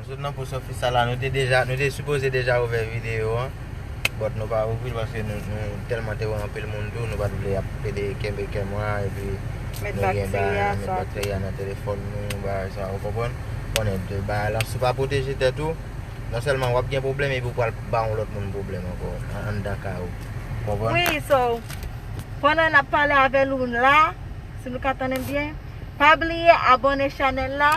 Nou sot nan post office la nou te deja nou te sipoze deja ouvè video an but nou pa ouvril paske nou telman te wè anpil moun tou nou pat vle ap pede kenbe camera epi nou gen bagay nan met bacteria nan telefòn nou bagay sa ou konprann konnen de bagay la si ou pa pwoteje tèt ou non sèlman wap gen pwoblèm epi ou pral ba yon lòt moun pwoblèm ankò anndan kay ou konprann. Wi so pandan nap pale avèl ou la si nou ka tandem byen pa bliye abone chanèl la.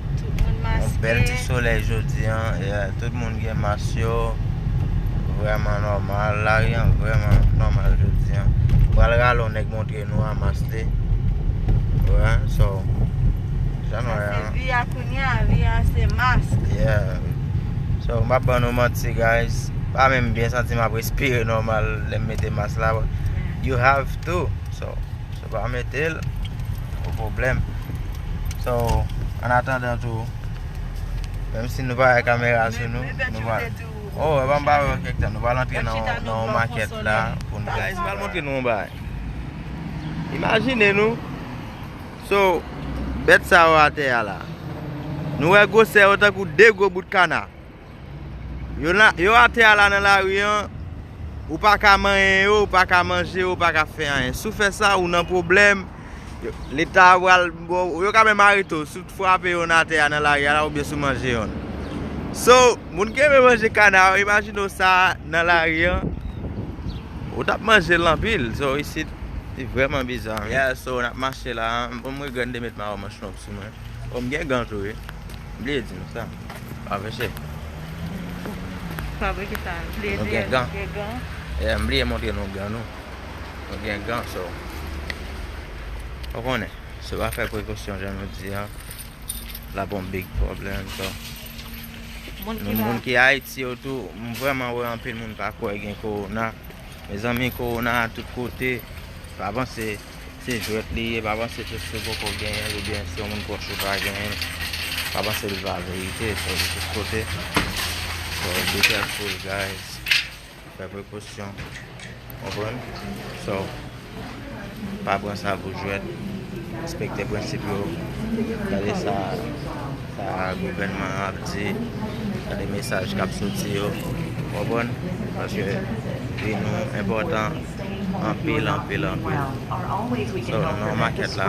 Yon bèl ti solèy jodi an, tout moun gen mas yo, vrèman nòmal, lari an vrèman nòmal jodi an. Pral rale yon nèg montre nou a mas li. Ouwè, so, jan nou wè an. Sa se vi a kounye a, vi a se mas. Yeah. So, m pap ban nou manti guys, m pa menm byen santi m ap respire nòmal lè m mete mas la, but you have to, so. Wa metel Pou problem So an atandan tou Menm si nou pa gen kamera sou nou Nou va Oh epa m pa wè kèk tan Nou pral antre nan yon makèt la Poun fè Guys m pral montre nou yon bagay Imajine nou So Bèt sa yo atè a la Nou wè gwosè yo tankou 2 gwo bout kana Yo atè a la nan lari an, ou pa ka manyen yo, ou pa ka manje yo, ou pa ka fè anyen. Si w fè sa, ou nan pwoblèm, leta a pral ba w, yo ka menm arete w, si w frape yonn atè a nan lari a la oubyen si w manje yonn. So, moun ki renmen manje kana yo, imajine w sa nan lari an, ou t ap manje l anpil. So, isit, li vrèman biza. Yeah, so, n ap mache la, m regrèt m te met mayo manch long sou mwen. O, m gen gan tou wi. Bliye di nou sa. Pa vese. Pa vle ki sa? Bliye di nou gen gan. Gen gan. E m bliye montre nou gan nou. Nou gen gan so. Ou konnen. Se pa fè prekosyon jan nou di an. La bon big problem so. Moun ki Haiti yo tou. M vreman wè anpil moun pa kwe gen korona. Mezanmi korona a tout kote. Pa panse. Se jwèt li ye, pa panse pske ou poko genyenl ou byen si yon moun pwòch ou pa genyenl, pa panse li pa verite, sa vle tout kote, so be careful guys, fè prekosyon, konprann, so pa pran sa pou jwèt, respekte prensip yo, gade sa gouvènman an ap di, gade mesaj kap soti yo, konprann, paske vi nou enpòtan. Anpil anpil anpil So nan makèt la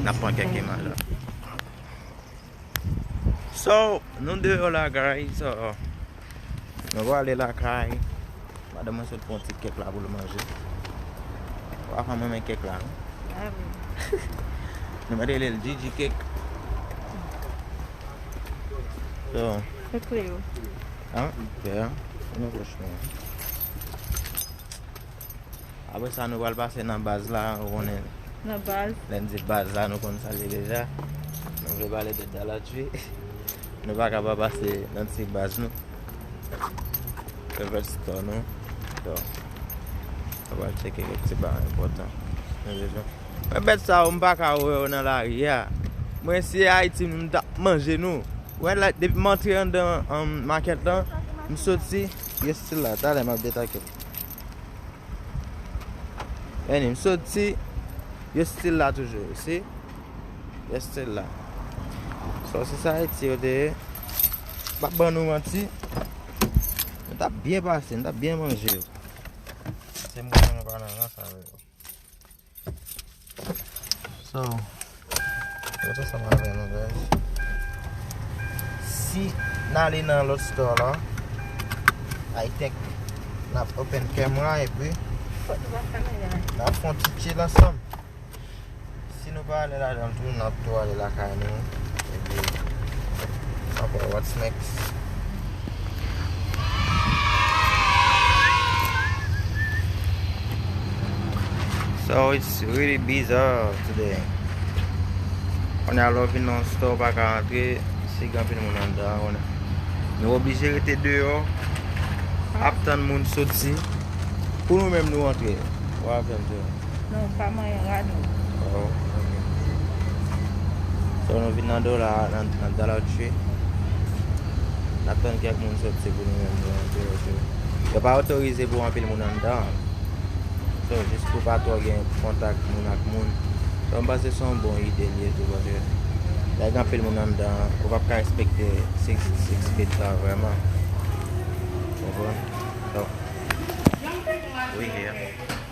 nap pran kèk imaj la So nou deyò la guys Nou prale lakay Madanm mwen sot pran ti kèk la poul manje Wafan m renmen kèk la Nou mèt relel Jiji kèk So Kèk klè yo An klè an An nou kòch nou an Apre sa nou pral pase nan baz la ou konnen Nan baz Lè n di baz la nou konn sa l ye deja Nou vle pale de Daladji Nou pa ka pa pase nan ti baz nou Favorite store nou Donk Nou pral tcheke kèk ti bagay enpòtan Mwen bèt sa yo m pa ka wè yo nan lari a Mwen si se Ayiti m ta manje nou Wè la depi m antre anndan makèt lan M soti Yo stil la, talè map detakel. Eni, m soti, yo stil la toujou, you see? Yo stil la. So, se sa Ayiti yo te ye. M pap ban nou manti. Nou tap byen pase, nou tap byen manje. Se m konnen nou pa nan rans avè yo. So, Mete sa mwen avè nou guys Si n ale nan lòt store la I think N ap open camera epi N ap fon ti chill ansanm Si nou pa ale ladanl tou n ap tou ale lakay nou epi N ap wè what's next So it's really bizarre today. On a love in non store pa ka antre, si gen anpil moun an dan, on a. Nou oblije rete deyo, ap tann moun soti, pou nou menm nou antre. What happened to Non ou pa manyen rad ou. Oh ok. So nou vin nan dola a, nan dollar tree. Nap tann kèk moun soti pou nou menm nou antre yo tou. Yo pa otorize pou anpil moun anndan an. So jis pou pa twò gen kontak moun ak moun. So m panse son bon ide li ye tou paske lè gen anpil moun anndan an, ou pap ka respekte 6 six feet la vrèman. Konprann? So we here.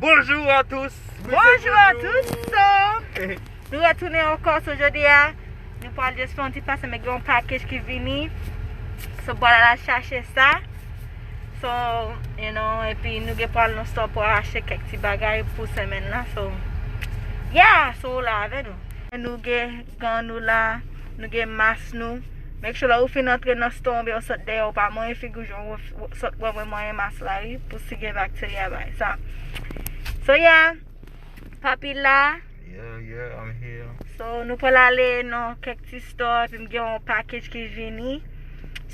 Bonjour à tous Bonjour à tous Nou retounen ankò sou jodi a Nou pral just fè yon ti pase men gen yon package ki vini So pral ala chache sa So you know epi nou gen pral nan store pou achte kèk ti bagay pou semaine la so Yeah so la avè nou Nou gen Gan nou la, nou gen mas nou. Make sure lè ou fin antre nan store oubyen ou sot deyè ou pa manyen figiw jan ou sot pran mwen manyen mas la wi pou si gen bacteria bagay sa. So yeah, papi la. Yeah yeah I'm here. So nou pral ale nan kèk ti store epim gen yon package ki vini.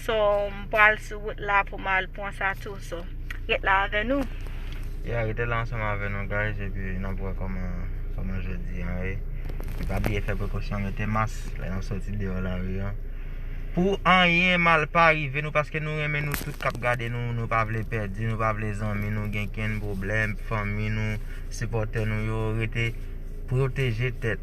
So m pral sou wout la pou m al pran sa tou so ret la avè nou. Yeah rete la ansanm avè nou guys epi nap wè kòman kòman jodi an ye. E pa bliye fè prekosyon mete mas lè nap soti deyò lari an. Pou anyen mal pa rive nou paske nou renmen nou tout kap gade nou nou pa vle pèdi nou pa vle zanmi nou gen kenn pwoblèm fanmi nou sipòtè nou yo rete pwoteje tèt.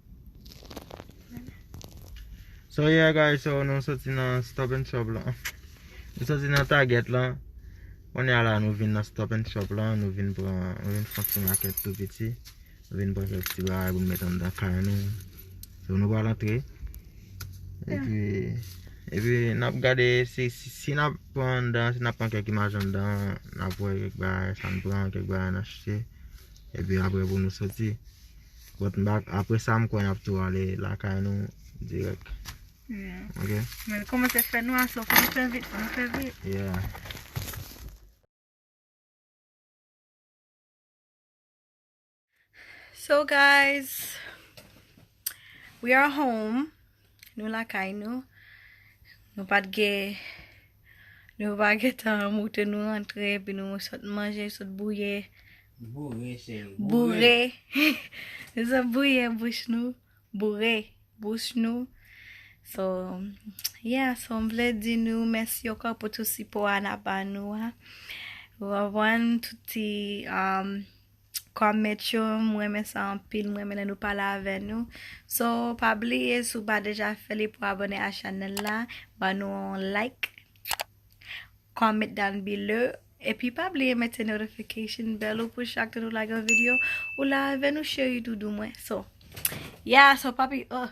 So yeah guys so nou soti nan stop and shop lan Nou soti nan target lan Kounye a la nou vin nan stop and shop lan Nou vin pran Nou vin fon ti makèt tou piti Nou vin pran kèk ti bagay pou nou met anndan kay nou So nou pral antre Epi Epi nap gade si Si nap pran anndan Si nap pran kèk imaj anndan Nap wè kèk bagay sa nou pran Kèk bagay nou achte Epi apre pou nou soti But m bak apre sa m kwè n ap tou ale lakay nou dirèk. Yeah. Ok? Men l kòmanse fè nwa so fò n fè vit, fò n fè vit. Yeah. So guys, we are home. Nou lakay nou. Nou pat gen. Nou pa gentan moute nou rantre epi nou sot manje sot bouye. Boure cheri. Boure. Nou sot bouye bouch nou. Boure bouch nou. So yeah so m vle di nou mèsi ankò pou tout sipo a nap ba nou a. Ou konprann tout ti um. comment yo m renmen sa anpil m renmen lè nou pale avè nou so pa bliye si w pa deja fè li pou abone a chanèl la ban nou yon like comment down below epi pa bliye mete notification bell ou pou chak nou lage yon video ou la avè nou cheri doudou mwen so yeah so papi oh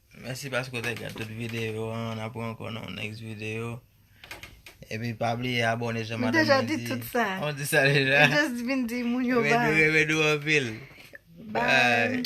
Mèsi paske w te gad tout videyo an, n ap rankon nan yon next videyo. Epi pa bliye abone jan madanm mwen di. M deja di tout sa. An w di sa deja? M just vin di moun yo bay. Mwen renmen nou anpil. Bay.